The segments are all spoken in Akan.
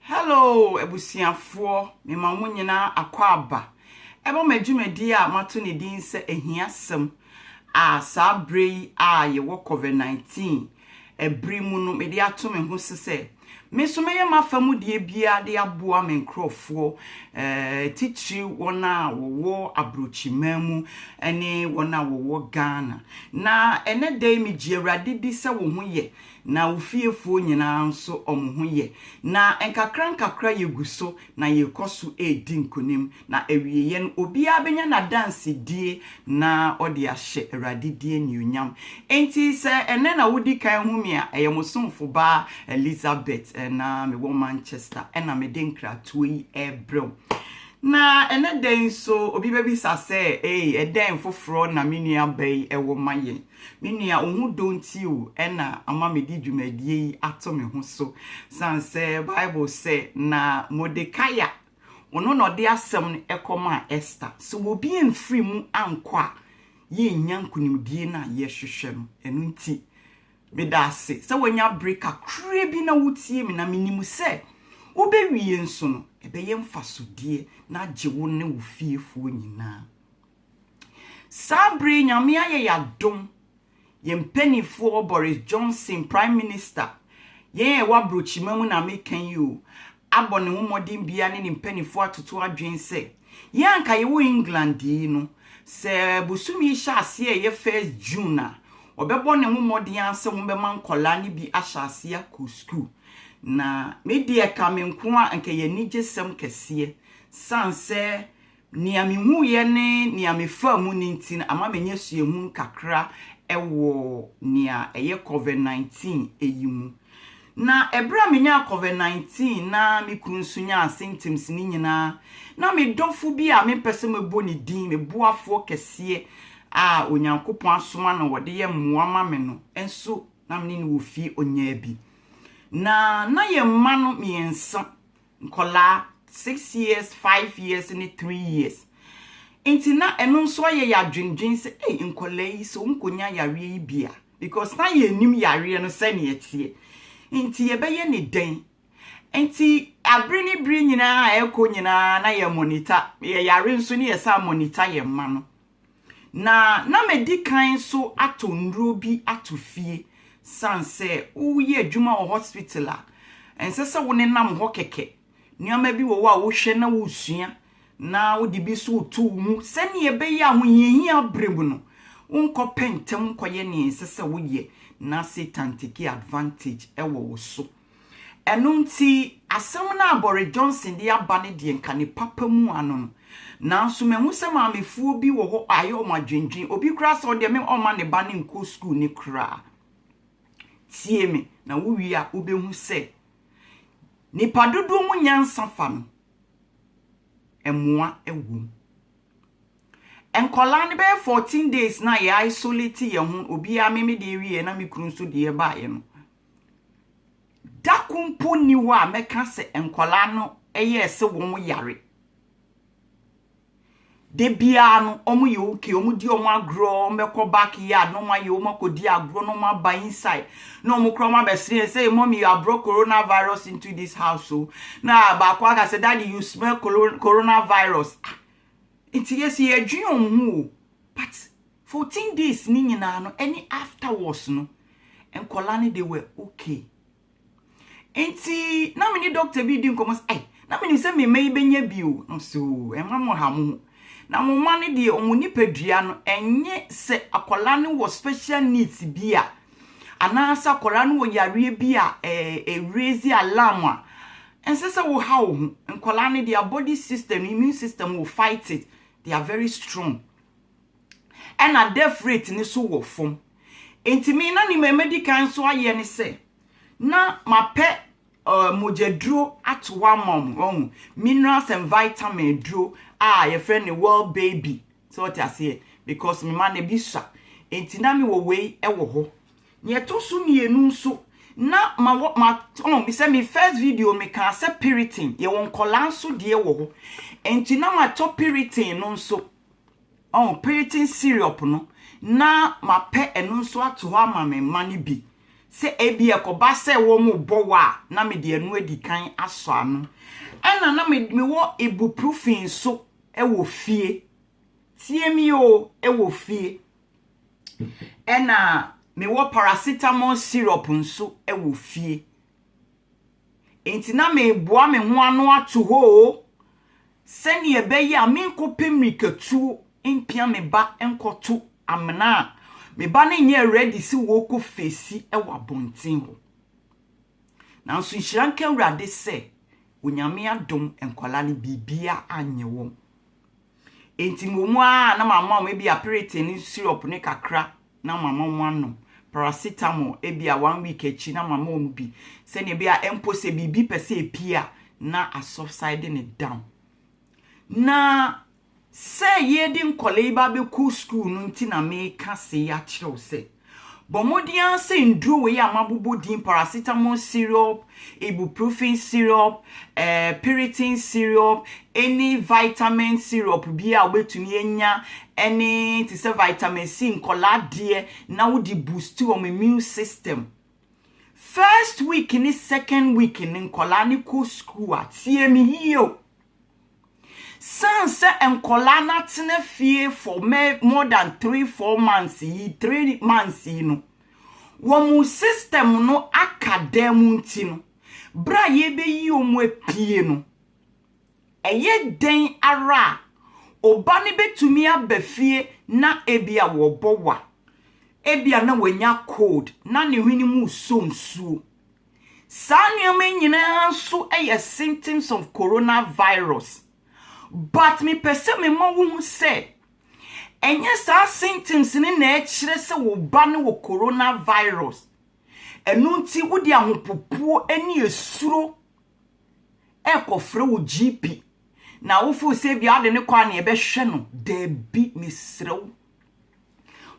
Hello abusuafoɔ, mema mo nyinaa akwaaba ɛma mo adwumadie a mato ne din sɛ ahiasɛm a saa berɛ yi a yɛwɔ COVID-19 ɛbere mu no mede ato me ho so sɛ me nso mɛyɛ m'afa mu deɛ biara de aboa me nkurɔfoɔ eh, titiri wɔn a wɔwɔ aburokyiman mu ne wɔn a wɔwɔ Ghana na ɛnɛ da yi megye Awurade di sɛ wo ho yɛ Na wo fiefoɔ nyinaa nso wɔn ho yɛ. Na nkakrankakra yɛgu so na yɛrekɔ so redi nkonim, na awieeɛ no, obiara bɛnya n'adansedie na ɔde ahyɛ Awurade din animuonyam. Enti sɛ ɛnnɛ na wodi kan hu me a, ɛyɛ mo somfo baa Elizabeth na mewɔ Manchester na mede nkratoɔ yi rebrɛ wo. Na ɛnnɛ da yi nso, obi bɛbisa sɛ, Ei, ɛdɛn foforɔ na me nuabaa yi wɔ ma yɛn? Me nua, wo ho dɔ nti o na ama mede dwumadie yi ato me ho so, sane sɛ Bible sɛ, Na Mordekai a ɔno na ɔde asɛm no kɔmaa Ester, sɛ obi amfiri mu ankɔ a, yɛrennya nkonimdie no a yɛhwehwɛ no. Ɛno nti, meda ase sɛ woanya bere kakra bi na wotie me, na menim sɛ wobɛwie nso no, ɛbɛyɛ mfasodeɛ na agye wo ne wo fiefoɔ nyinaa. Saa bere yi Nyame ayɛ yɛn adom, yɛn mpaninfoɔ, Boris Johnson, Prime Minister, yɛn a ɛwɔ aburokyima mu na meka yi o, abɔ ne ho mmɔden biara ne ne mpaninfoɔ atoto adwene sɛ, yɛn a anka yɛwɔ England yi no, sɛ bosomi yi hyɛ aseɛ a ɛyɛ first June a, wɔbɛbɔ ne ho mmɔden ara sɛ wɔbɛma nkɔlaa no bi ahyɛ aseɛ akɔ sukuu. Na me deɛ ɛka me nko a, anka ɛyɛ anigyesɛm kɛseɛ, sane sɛ Nea mihuiɛ ne nea mefaa mu no nti no ama manya suahunu kakra wɔ nea ɛyɛ Covid nineteen yi mu. Na ɛberɛ a menyaa Covid nineteen na me kunu nso nyaa symptoms no nyinaa, na me dɔfo bi a mempɛ sɛ mɛbɔ ne din, me boafoɔ kɛseɛ a Onyankopɔn asoma no ɔde yɛ mmoa ma me no nso na me ne no wɔ fie, ɔnyaa bi. Na na yɛn mma no mmiɛnsa nkwadaa six years, five years ne three years. Nti na ɛno nso ayɛ yɛ adwendwen sɛ ei nkwadaa yi sɛ wɔnkɔnya yareɛ yi bi a because na yɛnim yareɛ no sɛnea ɛteɛ. Nti yɛbɛyɛ ne dɛn? Nti abere ne bere nyinaa a ɛkɔ nyinaa na yɛ monitor yɛ yare nso ne yɛsan monitor yɛn mma no. Na na madi kan nso atɔ nnuro bi ato fie. Ɛsiane sɛ woreyɛ adwuma wɔ hospital a, ɛnsɛ sɛ wonenam hɔ kɛkɛ. Nneɛma bi wɔ hɔ a wohwɛ na wosua na wode bi nso reto wo mu sɛnea ɛbɛyɛ a ahohiahia bere mu no, wonkɔpɛ ntɛm nkɔyɛ nea ɛnsɛ sɛ woyɛ na Satan take advantage wɔ wo so. Ɛno nti, asɛm no a Boris Johnson de aba no deɛ nka ne papa mu ano no. Nanso mahu sɛ maamefoɔ bi wɔ hɔ a ayɛ wɔn adwendwen. Obi koraa sɛ ɔdeɛ me ɔmma ne ba no nkɔ sukuu ne koraa. Tie me na wowie a wobɛhu sɛ nipa dodoɔ mu nyansa fa no mmoa wom. Nkɔlaa no bɛyɛ 14 days na yɛ isolate yɛ ho obiara me me deɛ wieɛ na me kunu nso deɛ baeɛ no. Da ko mpo nni hɔ a mɛka sɛ nkwadaa no yɛɛ sɛ wɔn yare. Da biara no, wɔn yɛ okay, wɔn di wɔn agorɔ, wɔn bɛkɔ back yard na wɔn ayɛ wɔn akɔdi agorɔ na wɔn aba inside na wɔn kora wɔn abɛsrɛ yɛn sɛ hey, mommy you have brought coronavirus into this house o na baako aka sɛ daddy you smell coronavirus ah nti yɛsi yɛdwen wɔn ho o but Fourteen days no nyinaa no ɛne afterwards no nkwadaa no they were okay. Nti na me ne doctor bi di nkɔmmɔ sɛ ai na menim sɛ me mma yi bɛnya bi o. Na ɔsɛ o ɛma mo ha mo ho. Na mo mma no deɛ wɔn nipadua no ɛnyɛ sɛ akwadaa no wɔ special needs bi a anaasɛ akwadaa no wɔ yareɛ bi a ɛɛ raise alarm a ɛnsɛ sɛ wo ha wo ho. Nkwadaa no their body system, immune system will fight it. They are very strong. ɛna death rate no so wɔ fam. Nti me na nima mɛdi kan nso ayɛ ne sɛ, na mapɛ uh, mogyaduro ato hɔ ama wɔn, wɔn minerals and vitamin duro a yɛfrɛ no well baby, sɛ wɔte aseɛ, because me ma no bi sa. Nti na mewɔ wei wɔ hɔ. Nea ɛtɔ so mmienu nso, na ma wɔ ma ɔn bi sɛ me first video me kaa sɛ piritin yɛwɔ nkɔlaa nso deɛ wɔ hɔ. Nti na matɔ piritin no nso Ɔho Piriton Syrup no, na mapɛ ɛno nso ato hɔ ama me mma no bi, sɛ ebia ɛkɔba sɛ wɔrebɔ wo a, na mede ɛno adi kan asɔ ano. Ɛna na me, mewɔ ibuprofen nso wɔ fie. Tie me o, wɔ fie. Ɛna mewɔ paracetamol syrup nso wɔ fie. Enti na mereboa me ho ano ato hɔ oo, sɛnea ɛbɛyɛ a menkɔpɛ mmirikatuo mpia me ba nkɔto amena a me ba no nyɛɛ ready sɛ wɔrekɔ feesi wɔ abɔnten hɔ. Nanso nhyira nka Awurade sɛ Onyame adom nkwadaa no biribiara anyɛ wɔn. Enti mmom ara na mama wɔn ebia piriton ne sirop no kakra na mama wɔanom, paracetamol ebia one week akyi na mama wɔn bi sɛnea ɛbɛyɛ a mpo sɛ biribi pɛ sɛ epue a, na asubside no down. Na sɛ yɛde nkwadaa yi ba abɛkɔ sukuu no nti na meka sei akyerɛ wo sɛ. Bɔ mmɔden ara sɛ nnuro wei a mabobɔ din, paracetamol syrup, ibuprofen syrup, eh, piriton syrup, any vitamin syrup bi a wobɛtumi anya, ɛne te sɛ vitamin C nkɔlaa deɛ, na wode boost wɔn immune system. First week ne second week no nkɔlaa ne kɔ school a, tie me yie o. Sane sɛ nkwadaa no atena fie for more than three, four months yi, three months yi no, wɔn system no aka dan mu nti no, berɛ a yɛbɛyi wɔn apue no, ɛyɛ dɛn ara a, ɔba no bɛtumi aba fie na ebia wɔbɔ wa, ebia na wanya cold, na ne hwene mu resɔ nsuo. Saa nneɛma yi nyinaa nso yɛ symptoms of coronavirus. But mepɛ sɛ mema wohu sɛ, ɛnyɛ saa symptoms no na ɛkyerɛ sɛ wo ba no wɔ coronavirus. Ɛno nti wode ahopopoɔ ne esuro ɛrekɔfrɛ wo GP na wofoo sɛ bia wode ne kɔ a na ɛbɛhwɛ no. Daabi, mesrɛ wo.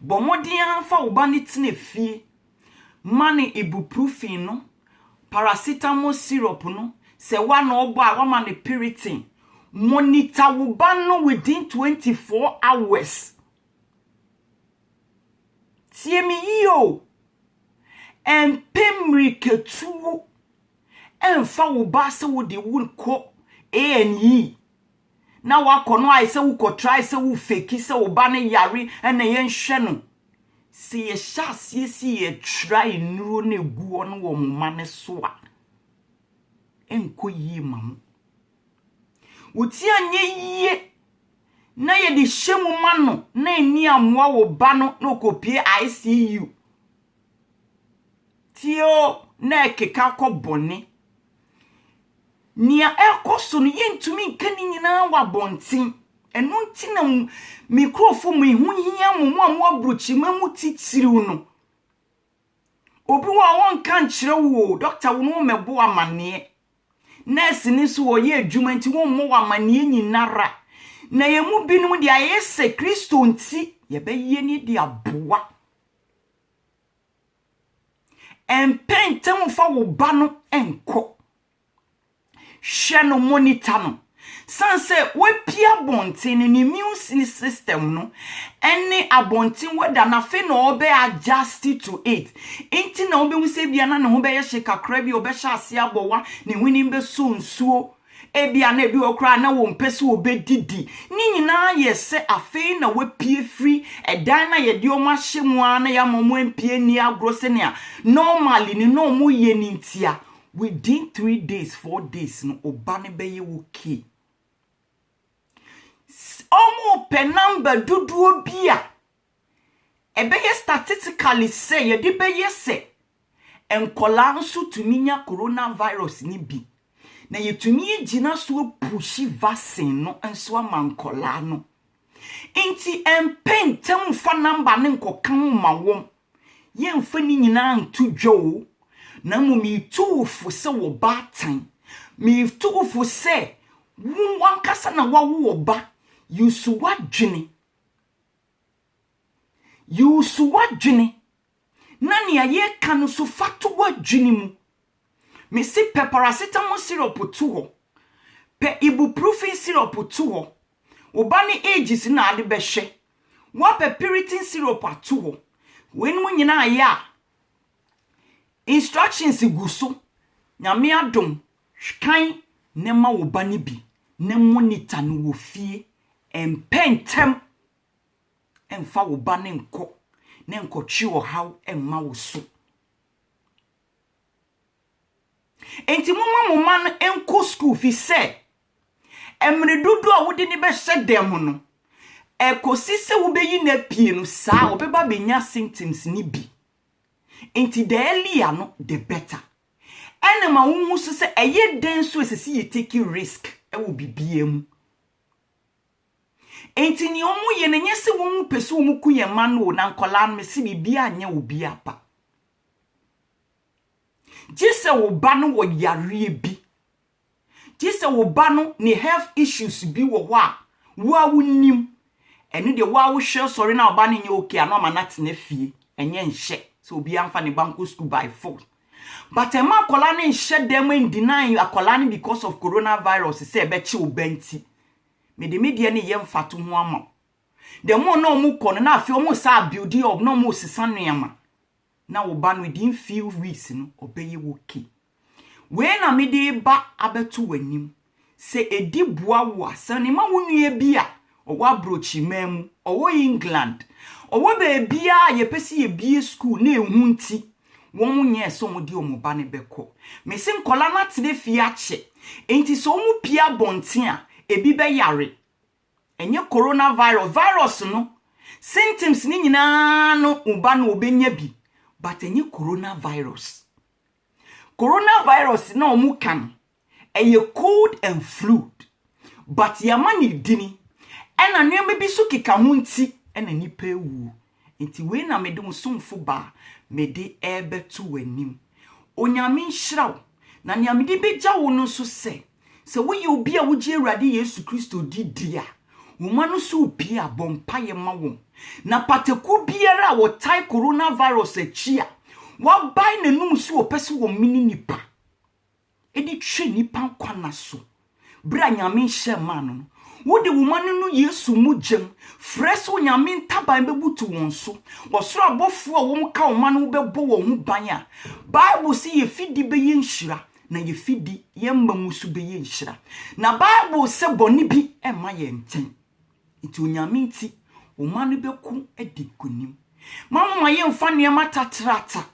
Bɔ mmɔden ara fa wo ba no tena fie. Ma no ibuprofen no, paracetamol syrup no, sɛ wo ana ɔbɔ a wama no piriton. Monitor wo ba no within twenty four hours. Tie me yie o, ɛmpɛ mmirikatuo ɛmfa wo ba sɛ wode wo kɔ A&E. na wakɔ no ayɛ sɛ wokɔtrae sɛ wo fake sɛ wo ba no yare na yɛnhwɛ no. Sɛ yɛhyɛ aseɛ si yɛ trae nnuro na ɛgu hɔ no wɔ mo mma no so a, ɛnkɔ yie ma mo. Wo ti anyɛ yie na yɛde hyɛ mu ma no na ɛni amoa wo ba no na ɔkɔpie ICU. Ti o na ɛkeka kɔ bɔne. Nea ɛrekɔ so no, yɛntumi nka ne nyinaa wɔ abɔnten. Ɛno nti na mo- me nkurɔfo mu ɛho hia mo, mo a mo aburokyima mu titiriw no. Obi wɔ hɔ a wɔnka nkyerɛ wo o, dɔkta wo no wɔmmɛbɔ wo amanneɛ. Nɛɛse no nso wɔyɛ adwuma nti wɔmmɔ wo amanneɛ nyinara. Na yɛn mu binom deɛ ayɛ sɛ Kristo nti yɛbɛyɛ ne de aboa. Ɛmpɛ ntɛm mfa wo ba no nkɔ. Hwɛ no, monitor no. San sɛ wapue abɔnten no, ne immune system no ne abɔnten weather no, afei na ɔbɛ adjust to it. Nti na wobɛhu sɛ ebia na ne ho bɛyɛ hye kakra bi, ɔbɛhyɛ aseɛ abɔwa, ne hwenem bɛsɔ nsuo. Ebia na ebi wɔ hɔ koraa a na wɔmpɛ sɛ wɔbɛdidi. Ne nyinaa yɛ sɛ afei na wɔapue firi dan no a yɛde wɔn ahyɛ mu ara na yɛama wɔn ampue anni agorɔ sɛnea normally no na wɔyɛ no nti a, within three days, four days no, wo ba no bɛyɛ okay. Wɔpɛ number dodoɔ bi a Ɛbɛyɛ statistically sɛ yɛde bɛyɛ sɛ nkwadaa nso tumi nya coronavirus no bi, na yɛtumi agyina so apuhyi vaccine no nso ama nkwadaa no. Nti ɛmpɛ ntɛm mfa number no nkɔka ho mma wɔn. Yɛmfa ne nyinaa nto dwa o, na mmom metu wo fo sɛ wɔ baatan. Metu wo fo sɛ wo ankasa na wawo ɔba, yi so w'adwene. Use w'adwene na nea yɛreka no so fa to w'adwene mu. Mese pɛ paracetamol syrup to hɔ, pɛ ibuprofen syrup to hɔ, wo ba ne ages na ade bɛhwɛ, woapɛ piriton syrup ato hɔ, weinom nyinaa yɛ a, instructions gu so, Nyame adom Hwkan ne ma wo ba no bi ne monita no wɔ fie mpɛ ntɛm. Mfa wo ba no nkɔ na nkɔtwe ɔhaw mma wo so. Enti momma mo mma no nkɔ sukuu fi sɛ mmere dodoɔ a wode no bɛhyɛ dɛm no, ɛkɔsi sɛ wobɛyi no apue no saa ɔbɛba abɛnya symptoms no bi. Enti the earlier no the better. Ɛna ma wo hu so sɛ ɛyɛ dɛn nso ɛsɛ sɛ yɛ take risk ɛwɔ biribiara mu. Enti nea wɔn yɛ no nyɛ sɛ wɔn pɛ sɛ wɔn ku yɛn mma no o na nkɔlaa no me se biribiara anyɛ obiara pa. Gye sɛ wo ba no wɔ yareɛ bi Gye sɛ wo ba no ne health issues bi wɔ hɔ a wo ara wonim. Ɛno deɛ wo ara wohwɛ sɔre na wo ba no nyɛ okay a na wama no atena fie. Ɛnyɛ nhyɛ sɛ obiara mfa ne ba nkɔ school by force. But ɛmma akwadaa no nhyɛ da mu n-deny akwadaa no because of coronavirus sɛ ɛbɛkye wo ba nti mede me deɛ no reyɛ mfatoho ama wo. The more na wɔkɔ no na afei wɔsan abuild up na wɔresesa nneɛma. na wo ba no within few weeks no ɔbɛyɛ ok. Wei na mede reba abɛto w'anim, sɛ ɛdi boa wo a, sane ma wo nua bi a ɔwɔ abrɔkyiriman mu, ɔwɔ England, ɔwɔ baabiara a yɛpɛ sɛ yɛbue school na ɛhu nti wɔn nyɛɛ sɛ wɔn de wɔn ba no bɛkɔ. Mese nkwadaa no atena fie akyɛ, nti sɛ wɔpue abɔnten a, ɛbi bɛyare. Ɛnyɛ corona virus, virus no symptoms no nyinaa no mu ba na ɔbɛnya bi but ɛnyɛ corona virus. Corona virus na ɔmo ka no ɛyɛ cold and flud but yɛama no edini ɛna nneɛma bi nso keka ho nti ɛna nnipa awuo. Enti wei na mede wo somfo ba a mede rebɛto w'anim. Onyame nhyira wo. Na nea mede begya wo no nso sɛ, sɛ woyɛ obi a wogye Awurade Yesu Kristo di di a, wo mma no so repue a, bɔ mpaeɛ ma wɔn. Na pataku biara a wɔtae coronavirus akyi a wabae n'anom so wɔpɛ sɛ wɔmene nipa. de twe nnipa nkwa nna so bere a Nyame nhyɛ mmaa no no. Wode wo mma no no Yesu mogya mu, frɛ sɛ Onyame ntaban bɛbutu wɔn so. Ɔsoro abɔfoɔ a wɔn ka wo mma no ho bɛbɔ wɔn ho ban a Bible se yɛ fidi bɛyɛ nhyira na yɛ fidi, yɛn mma mu nso bɛyɛ nhyira. Na Bible se bɔne bi mma yɛn nkyɛn. Nti Onyame nti, wo mma no bɛko adi nkonim. Mma moma yɛmfa nneɛma tatrata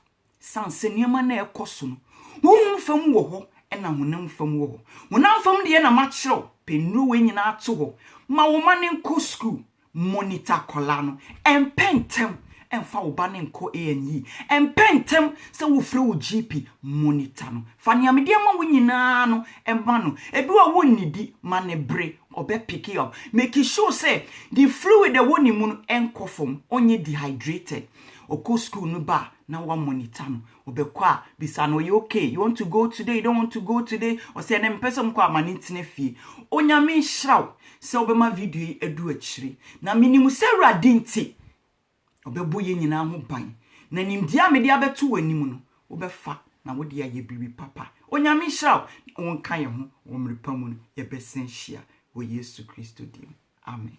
Esiane sɛ nneɛma no a ɛrekɔ so no, honhom fam wɔ hɔ na honam fam wɔ hɔ. Honam fam deɛ na makyerɛw, pɛ nnuro wei nyinaa to hɔ, ma wo mma no nkɔ sukuu, monitor akwadaa no, mpɛ ntɛm mfa wo ba no nkɔ A&E, mpɛ ntɛm sɛ wofrɛ wo GP, monitor no. Fa nea mede ama wo nyinaa no ma no. Ebi wɔ hɔ a wonnidi, ma no bere, ɔbɛ pick up. Make sure sɛ the fluid a ɛwɔ ne mu no nkɔ fam, ɔnyɛ dehydrated. ɔkɔ school no ba a na wa monitor no, ɔbɛkɔ a bisa no ɔyɛ okay, you want to go today, you don't want to go today, ɔsɛ ɛnɛ mepɛ sɛ mekɔ a ma no ntena fie. Onyame nhyira wo sɛ wobɛma video yi adu akyire na menim sɛ Awurade nti ɔbɛbɔ yɛn nyinaa ho ban na nimdeɛ a mede abɛto w'anim no wobɛfa na wode ayɛ biribi papa. Onyame nhyira wo na wonka yɛn ho wɔ mmerɛ pa mu no yɛbɛsan hyia wɔ Yesu Kristo din mu, amen.